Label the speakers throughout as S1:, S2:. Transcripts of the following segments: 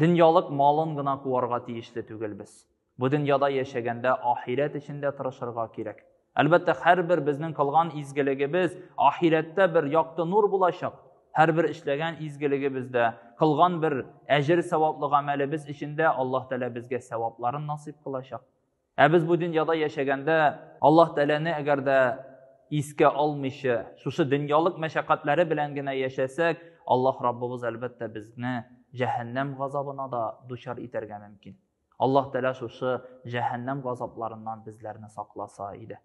S1: Дөньялык малын гына куарга тиешле түгелбез. Бу дөньяда яшәгәндә ахирәт өчен дә тырышырга кирәк. Әлбәттә, һәрбер безнең кылган изгелегебез ахирәттә бер якты нур булачак. Һәрбер эшләгән изгелегебездә, кылган бер әҗер-саваплы гамәлебез өчен дә Аллаһ Тәгалә безгә савапларын насыйп кылачак. Ә без бу дөньяда яшәгәндә Аллаһ Тәгаләне әгәр дә искә алмыйча, шушы дөньялык мәшәкатьләре белән генә яшәсәк, Аллаһ Раббыбыз әлбәттә безне җәһәннәм газабына да дучар итәргә мөмкин. Аллаһ Тәгалә шушы җәһәннәм газапларыннан безләрне сакласа иде.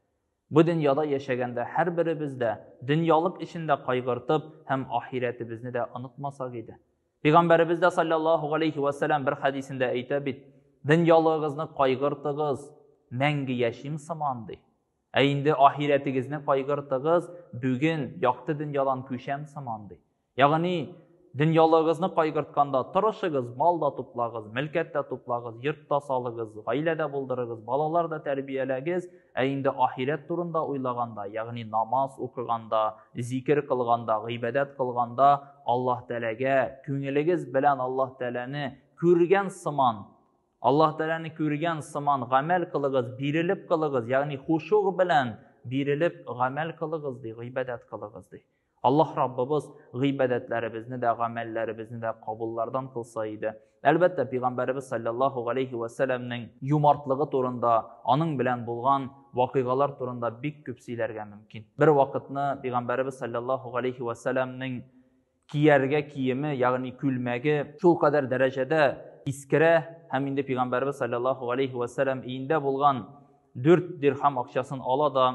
S1: Бу дөньяда яшәгәндә һәрберебез дә дөньялык өчен дә кайгыртып һәм ахирәтебезне дә онытмасак иде. Пәйгамбәребез дә саллаллаһу алейхи ва саллям бер хадисендә әйтә бит: "Дөньялыгызны кайгыртыгыз, мәңге яшим сыман" ди. Ә инде ахирәтегезне кайгыртыгыз, бүген якты дөньядан күчәм сыман ди. Ягъни, дөньялыгызны кайгыртканда тырышыгыз, мал да туплагыз, мөлкәт тә туплагыз, йорт та салыгыз, гаилә дә булдырыгыз, балалар да тәрбияләгез, ә инде ахирәт турында уйлаганда, ягъни намаз укыганда, зикер кылганда, гыйбадәт кылганда Аллаһ Тәләгә күңелегез белән Аллаһ Тәләне күргән сыман, Аллаһ Тәләне күргән сыман гамәл кылыгыз, бирелеп кылыгыз, ягъни хушуг белән бирелеп гамәл кылыгыз ди, гыйбадәт кылыгыз ди. Аллаһ Раббыбыз гыйбадәтләребезне дә, гамәлләребезне дә кабуллардан кылса иде. Әлбәттә, пәйгамбәребез саллаллаһу алейхи ва сәлламнең юмартлыгы турында, аның белән булган вакыйгалар турында бик күп сөйләргә мөмкин. Бер вакытны пәйгамбәребез саллаллаһу алейхи ва сәлламнең кияргә киеме, ягъни күлмәге шул кадәр дәрәҗәдә искерә һәм инде пәйгамбәребез саллаллаһу алейхи ва сәллам иендә булган 4 дирхам акчасын ала да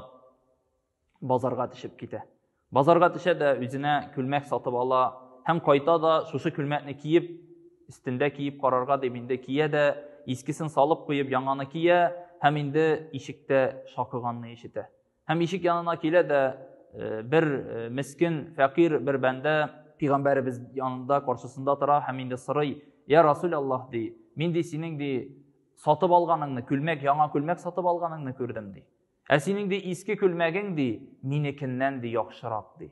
S1: базарга төшеп китә. Базарга төшә дә үзенә күлмәк сатып ала һәм кайта да шушы күлмәкне киеп, өстендә киеп карарга дип инде кия дә, искесен салып куеп яңаны кия һәм инде ишектә шакыганны ишетә. Һәм ишек янына килә дә э, бер э, мескин, фәкыйрь бер бәндә пигамбәребез янында каршысында тора һәм инде сорый, "Я Расул Аллаһ" ди, "Мин ди синең ди сатып алганыңны, күлмәк, яңа күлмәк сатып алганыңны күрдем" ди. Ә синең ди иске күлмәгең ди минекеннән ди яхшырак ди.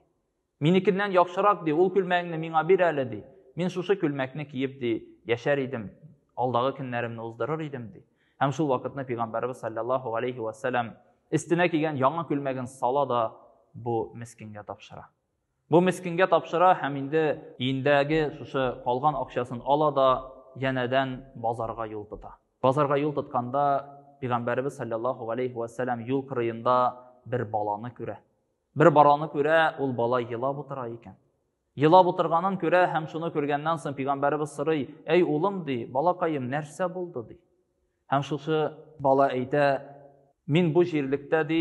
S1: Минекеннән яхшырак ди, ул күлмәгеңне миңа бир әле ди. Мин шушы күлмәкне киеп ди яшәр идем, алдагы көннәремне уздырыр идем ди. Һәм шул вакытны пәйгамбәрбез саллаллаһу алейхи ва саллям истенә кигән яңа күлмәген сала да бу мескенгә тапшыра. Бу мескенгә тапшыра һәм инде иендәге шушы калган акчасын ала да янәдән базарга юл тота. Базарга юл тотканда пигамбәребез саллаллаху алейхи ва саллям юл кырыенда бер баланы күрә. Бер бараны күрә, ул бала елап утыра икән. Елап утырганын күрә һәм шуны күргәннән соң пигамбәребез сорый: "Әй улым ди, балакаем, нәрсә булды ди?" Һәм шушы бала әйтә, мин бу җирлектә ди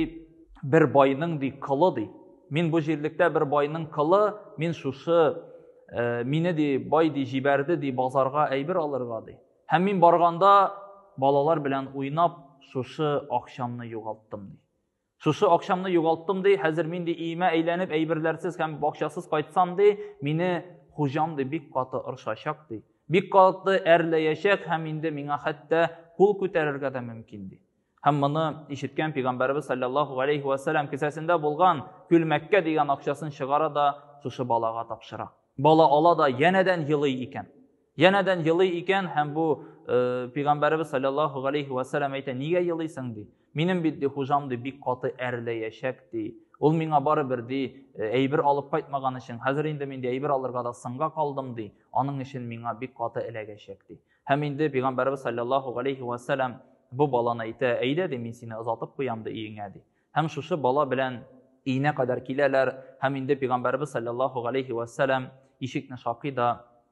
S1: бер байның ди кылы ди. Мин бу җирлектә бер байның кылы, мин шушы э, мине ди бай ди җибәрде ди базарга әйбер алырга ди. Һәм мин барганда балалар белән уйнап шушы акчамны югалттым ди. Шушы акчамны югалттым ди, хәзер мин ди иемә әйләнеп әйберләрсез һәм бакчасыз кайтсам ди, мине хуҗам ди бик каты ыршачак ди. Бик каты әрләячәк һәм инде миңа хәтта кул күтәрергә дә мөмкин ди. Һәм моны ишеткән пәйгамбәрбез саллаллаһу алейхи ва саллям кесәсендә булган күлмәккә дигән акчасын чыгара да шушы балага тапшыра. Бала ала да янәдән елый икән. Янәдән елый икән һәм бу э, пигамбәребез саллаллаһу алейхи ва саллям әйтә, нигә елыйсың ди? Минем бит ди хуҗам ди бик каты әрләячәк ди. Ул миңа бары бер ди э, әйбер алып кайтмаган өчен, хәзер инде мин ди әйбер алырга да сынга калдым ди. Аның өчен миңа бик каты эләгәчәк ди. Һәм инде пигамбәребез саллаллаһу алейхи ва саллям бу баланы әйтә, әйдә ди мин сине озатып куям ди иеңә ди. Һәм шушы бала белән иенә кадәр киләләр һәм инде пигамбәребез саллаллаһу алейхи ва саллям ишекне шакый да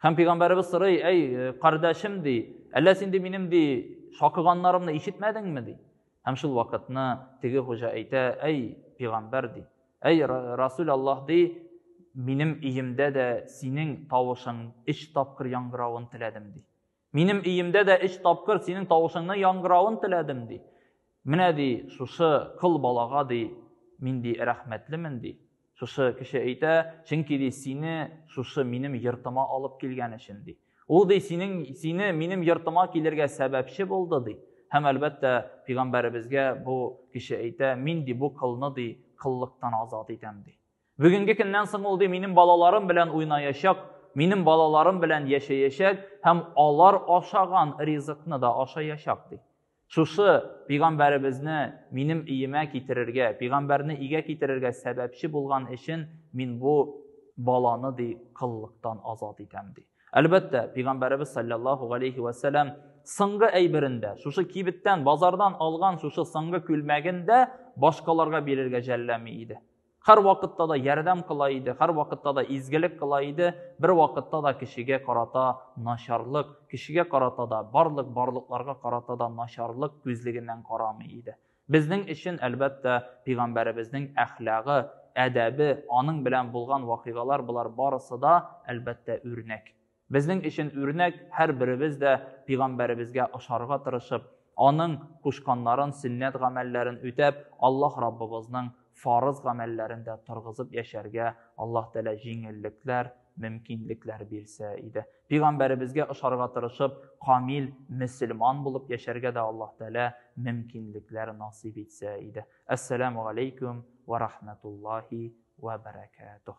S1: Һәм пәйгамбәребез сорый, әй, э, кардәшем ди, әллә син ди минем ди шакыганнарымны ишетмәдеңме ди? Һәм шул вакытны теге хуҗа әйтә, әй, пәйгамбәр ди, әй, Расул Аллаһ ди, минем өемдә дә синең тавышың өч тапкыр яңгыравын теләдем ди. Минем өемдә дә өч тапкыр синең тавышыңны яңгыравын теләдем, ди. Менә ди, шушы кыл балага ди, мин ди рәхмәтлемен ди. Шушы кеше әйтә, чөнки ди сине шушы минем йортыма алып килгән өчен ди. Ул ди синең сине минем йортыма килергә сәбәпче булды ди. Һәм әлбәттә, пигамбәребезгә бу кеше әйтә, мин ди бу кылны ди кыллыктан азат итәм ди. Бүгенге көннән соң ул ди минем балаларым белән уйнаячак, минем балаларым белән яшәячәк һәм алар ашаган ризыкны да ашаячак ди. Шушы пигамбәребезне минем иемә китерергә, пигамбәрне игә китерергә сәбәпче булган өчен мин бу баланы ди кыллыктан азат итәм ди. Әлбәттә, пигамбәребез саллаллаһу алейхи ва саллям соңгы әйберендә, шушы кибеттән, базардан алган шушы соңгы күлмәгендә башкаларга бирергә жәлләми иде. һәрвакытта да ярдәм кыла иде һәрвакытта да изгелек кыла иде бервакытта да кешегә карата начарлык кешегә карата да барлык барлыкларга карата да начарлык күзлегеннән карамый иде безнең өчен әлбәттә пигамбәребезнең әхлагы әдәбе аның белән булган вакыйгалар болар барысы да әлбәттә үрнәк Безнең өчен үрнәк һәрберебез дә пигамбәребезгә ошарга тырышып, аның кушканнарын, сөннәт гамәлләрен үтәп, Аллаһ Раббыбызның фарыз гамәлләрен дә торгызып яшәргә Аллаһ Тәгалә җиңеллекләр, мөмкинлекләр бирсә иде. Пигамбәребезгә ошарга тырышып, камил мөселман булып яшәргә дә Аллаһ Тәгалә мөмкинлекләр насыйп итсә иде. Ассаламу алейкум ва рахматуллахи ва баракатух.